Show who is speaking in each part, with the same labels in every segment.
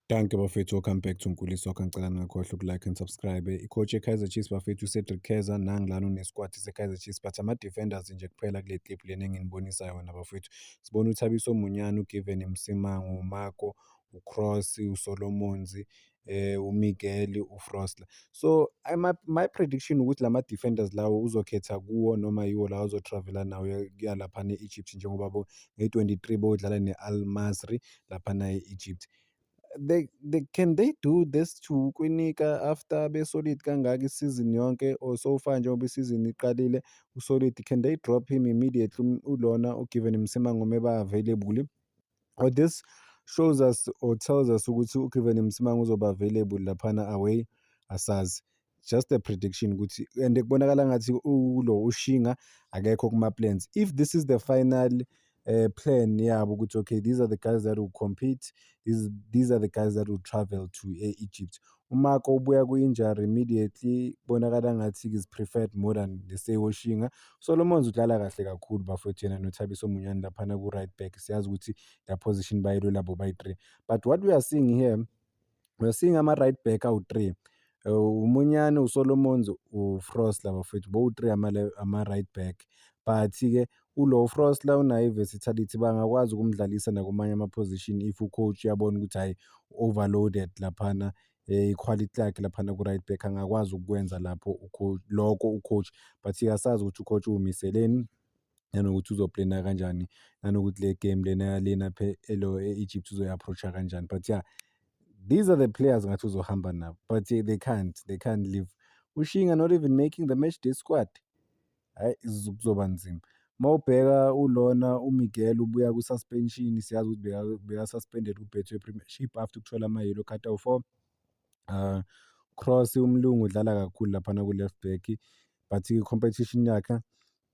Speaker 1: Dankie bafethu, welcome back to Nkulisa wakho. Ngicela ningakhohlwa ukulike and subscribe. Icoach yeKaizer Chiefs bafethu uCedric Keza nangilana unesquad seKaizer Chiefs but ama-defenders nje kuphela kule clip lena enginibonisa yona bafethu. Sibona uThabiso Munyana, uGiven Msimango, uMako, uCross, uSolomons, eh uMiguel, uFrostler. So I, my, my prediction ukuthi lama defenders lawo uzokhetha kuwo noma yiwo lawo azotravela nawo yalapha ne-Egypt njengoba bo nge-23 bodlala ne-Al Masry laphana e-Egypt they, they can they do this to Kwinika after beSolid kangaka isizini yonke or so far njengoba isizini iqalile uSolid can they drop him immediately ulona uGiven Msimango meba available or this shows us or tells us ukuthi uGiven Msimango uzoba available laphana away asazi just a prediction ukuthi and kubonakala ngathi ulo ushinga akekho kuma plans if this is the final uh, plan yabo ukuthi okay these are the guys that will compete these, these are the guys that will travel to e-egypt umako ubuya kwi-injury immediately kubonakala ngathi is preferred more than leseyoshinga solomons udlala kahle kakhulu bafowethu yena nothabiso munyane laphana ku-right back siyazi ukuthi la position bayilolabo bayi-three but what we are seeing here We're seeing ama-right back awu-three. Eh, uMunyane, uSolomons, uFrost laba futhi bowu-three ama-right back. But-ke ulo uFrost la unayo i-versatility bangakwazi ukumdlalisa nakumanye ama-position if u-coach uyabona ukuthi hhayi u-overloaded laphana eh, ikhwalithi lakhe laphana ku-right back angakwazi ukukwenza lapho lokho u-coach but-ke asazi ukuthi u-coach uwumiseleni. nanokuthi uzoplena kanjani nanokuthi le game lena yalena elo e-egypt uzoyi-approach-a kanjani but ya yeah, these are the players ngathi uzohamba nabo but they can't they can't leave ushinga not even making the match day squad hhayi kuzoba nzima uma ubheka ulona umiguel ubuya kwi-suspension siyazi ukuthi beka-suspended kubethwe premiership after ukuthola ama-yellow card awu-four um ah, cross umlungu udlala kakhulu laphana ku-left back but i-competition yakhe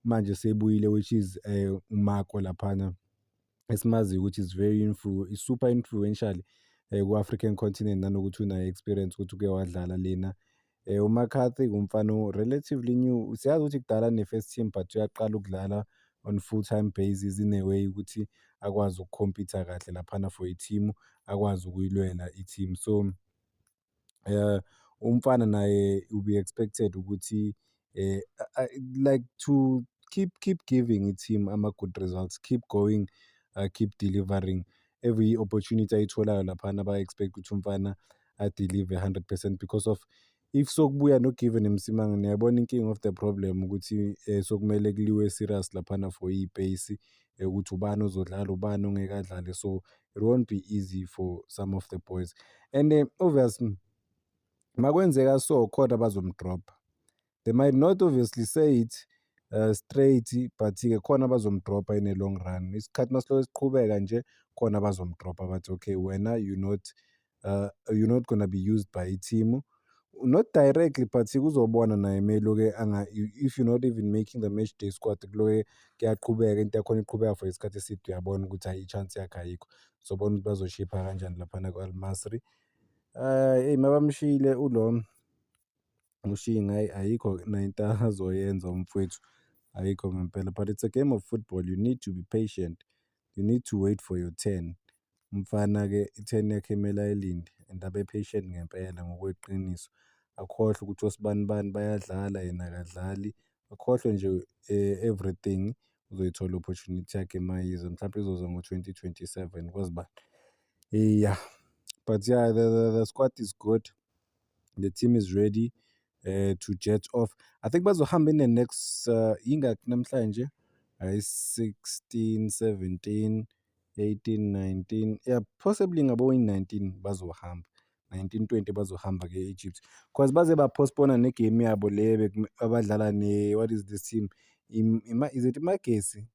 Speaker 1: manje sebuyile which is um uMako laphana esimaziyo ukuthi is very influ is super influential um ku-African continent nanokuthi unayo experience ukuthi uke wadlala lena um eh, uMcCarthy ngumfana relatively new siyazi ukuthi kudala ne-first team but uyaqala ukudlala on full time basis in a way ukuthi akwazi ukukhompyutha kahle laphana for i-team akwazi ukuyilwela i-team so um umfana naye will be expected ukuthi um like to keep keep giving i-team ama-good results keep going uh, keep delivering every opportunity ayitholayo laphana ba-expect ukuthi umfana adelive 100 percent because of if sokubuya nogiven emsimanga niyabona inking of the problem ukuthi um sokumele kuliwe serious laphana for iy'peyisi ukuthi ubani ozodlala ubani ongekadlali so it won't be easy for some of the boys and uh, obviously makwenzeka so khona bazomdropha they might not obviously say it uh, straight but-ke khona bazomdropha in a long run isikhathi masiloke siqhubeka nje khona bazomdropha bathi okay wena you not uh, you're not gonna be used by i-team not directly but kuzobona naye meloke anga if you're not even making the match day squad kuloke kuyaqhubeka into yakhona iqhubeka for isikhathi eside uyabona ukuthi hayi i-chance yakhe ayikho sobona ukuthi bazoshipha kanjani laphana ku-almasri um eyi mabamshiyile ulo Ushinga hhayi ayikho nento azoyenza umfwethu, ayikho ngempela. But it's a game of football, you need to be patient, you need to wait for your turn. Umfana-ke i-turn yakhe kumele ayilinde and abe patient ngempela ngokweqiniso. Akhohlwe ukuthi osibanibani bayadlala yena akadlali, akhohlwe nje everything. Uzoyithola i-opportunity yakhe uma iza, mhlawumpe izoza ngo-twenty twenty-seven kwazi bani. Iya, but ya the squad is good. the team is ready uh, to jet off i think bazohamba in the next uh, ingakhi namhlanje ayi-16 17 18 19 yeah possibly ngaboyi-19 bazohamba 1920 bazohamba ke egypt because baze bapostpona negame yabo le abadlala ne what is this team Ima, is it imagesi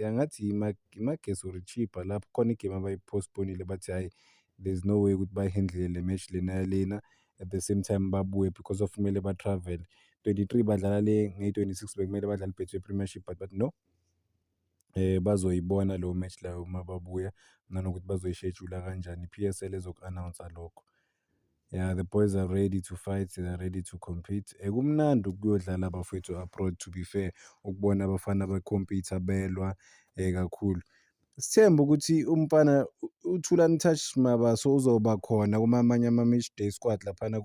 Speaker 1: Ya ngathi iMagesi or iChippa lapho khona igemu abayi-postpone-ile bathi hhayi there's no way ukuthi bayi-handle-le le match lena yalena at the same time babuye because of kumele ba-travel-le. Twenty-three badlala le ngeyi-twenty-six bekumele badlale iBetway Premiership but bathi no bazoyibona leyo match leyo uma babuya nanokuthi bazoyishejula kanjani, i-P_S_L ezoku-announce-a lokho. Yeah, the boys are ready to fight, they are ready to compete. Eh, kumnandi ukuyodlala abafowethu abroad to be fair, ukubona abafana becompete belwa eh kakhulu. Sithemba ukuthi umfana uThulani Touch Mabaso uzoba khona kumamanye ama-match day squad laphana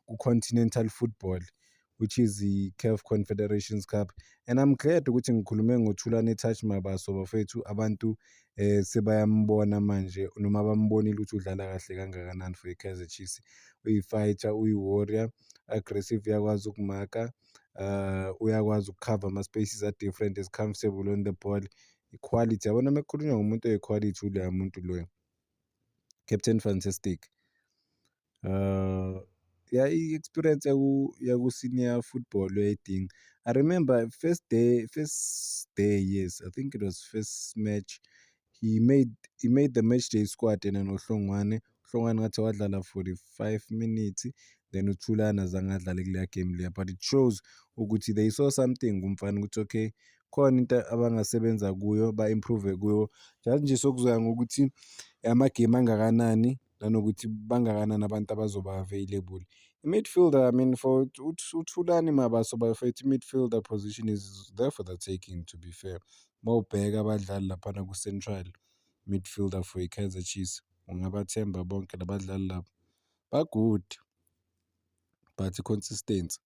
Speaker 1: ku-continental football. which is i-CAF Confederations Cup and I'm glad ukuthi ngikhulume ngoThulane Touch Mabaso bafethu abantu eh sebayambona manje noma bambonile ukuthi udlala kahle kangakanani for iKaizer Chiefs uyifighter uyiwarrior aggressive uyakwazi ukumaka uh uyakwazi ukukhava ama-spaces a-different is comfortable on the ball iquality yabona uma kukhulunywa ngomuntu oyiquality uleya muntu loyo captain fantastic Uh, yeah, i-experience yaku-senior football uyayidinga i remember first day first day yes i think it was first match he made he made the match day squad yena nohlongwane uhlongwane ngathi wadlala 45 minutes then uthulana azange adlale kuleya game leya but it shows ukuthi they saw something kumfana ukuthi okay khona into abangasebenza kuyo ba-improve kuyo just nje sokuzoya ngokuthi amagemu angakanani nanokuthi bangakanani abantu abazoba available. I-midfielder I mean for uThulani Mabaso bafethu i-midfielder position is there for the taking to be fair. Uma ubheka abadlali laphana ku-central midfielder for i-Kaizer Chiefs ungabathemba bonke la badlali laba. Ba-good but i-consistency.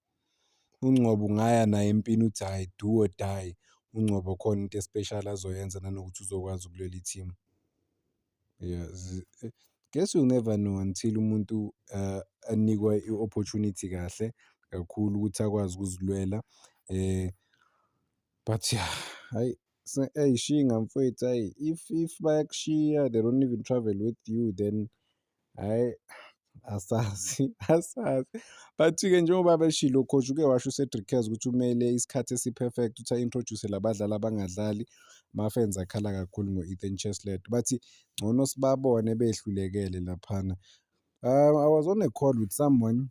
Speaker 1: UNgcobo ungaya naye empini uthi hhayi do or die. UNgcobo khona into e-special azoyenza nanokuthi uzokwazi ukulwela i-team. Yeah, eh, guess you'll never know until umuntu uh, anikwa i-opportunity kahle kakhulu ukuthi akwazi ukuzilwela eh but yeah hayi ayishiyi ngamfowethu ayi if if bayakushiya they don't even travel with you then Hhayi, asazi, asazi. But-ke njengoba beshilo u-coach uke washo uCedric Kez ukuthi umele isikhathi esi-perfect ukuthi a-introduce la badlali abangadlali. Mafenza akhala kakhulu ngo-Ethan Cheslet. Bathi ngcono sibabone behlulekele laphana. I was on a call with someone.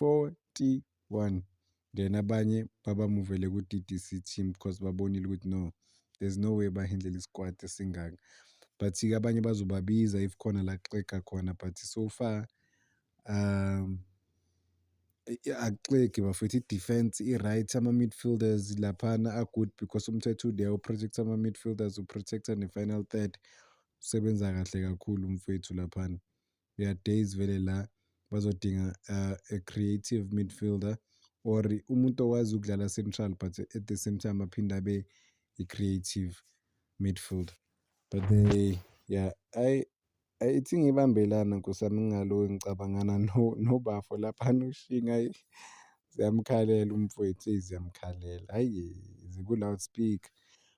Speaker 1: 41 then abanye baba muvele ku-DDC team because babonile ukuthi no there's no way bahindlela isikwati esingaka but-ke abanye bazobabiza if khona la kuxega khona but so far um akuxegi bafethu i-defense i-right ama-midfielders laphana a-good because umthetho ude uprotect ama-midfielders uprotecta ne-final third usebenza kahle kakhulu umfethu laphana there are days vele la bazodinga uh, a creative midfielder or umuntu owazi ukudlala central but at the same time aphinde abe i-creative midfielder but they yeah I ithi ngibambelana nkosami ngingaloku ngicabangana nobafo laphana ushinga ayi ziyamkhalela umfwethu eyi ziyamkhalela hhayi ziku-loudspeaker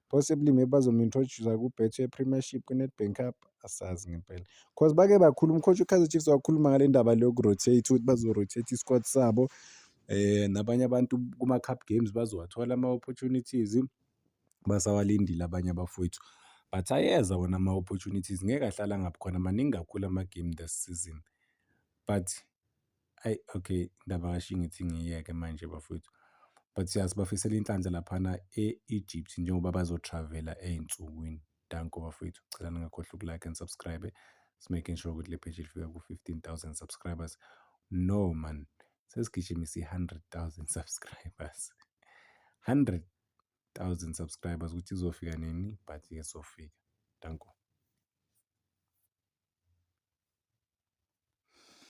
Speaker 1: possibly maybe bazomu-introduce-a kuBetway Premiership kwiNedbank Cup, asazi ngempela. Cause bake bakhuluma ucoach uKaizer Chiefs wakhuluma ngale ndaba le yoku-rotate ukuthi bazo-rotate i-squad sabo um nabanye abantu kuma-cup games bazowathola ama-opportunities, basawalindile abanye abafowethu. But ayeza wona ama-opportunities ngeke ahlale angabi khona, maningi kakhulu ama-game this season but. Ayi okay indaba kaShwi ngithi ngiyiyeke manje bafwethu. But ya sibafisela inhlanhla laphana e-Egypt njengoba bazo-travel-a ey'nsukwini. Danko bafwethu, ngicela ningakhohlwa uku-like and subscribe-e. Smaking sure ukuthi le page lifika ku-fifteen thousand subscribers. No mani, sesigijimise i-hundred thousand subscribers. Hundred thousand subscribers ukuthi izofika nini but izofika. Danko.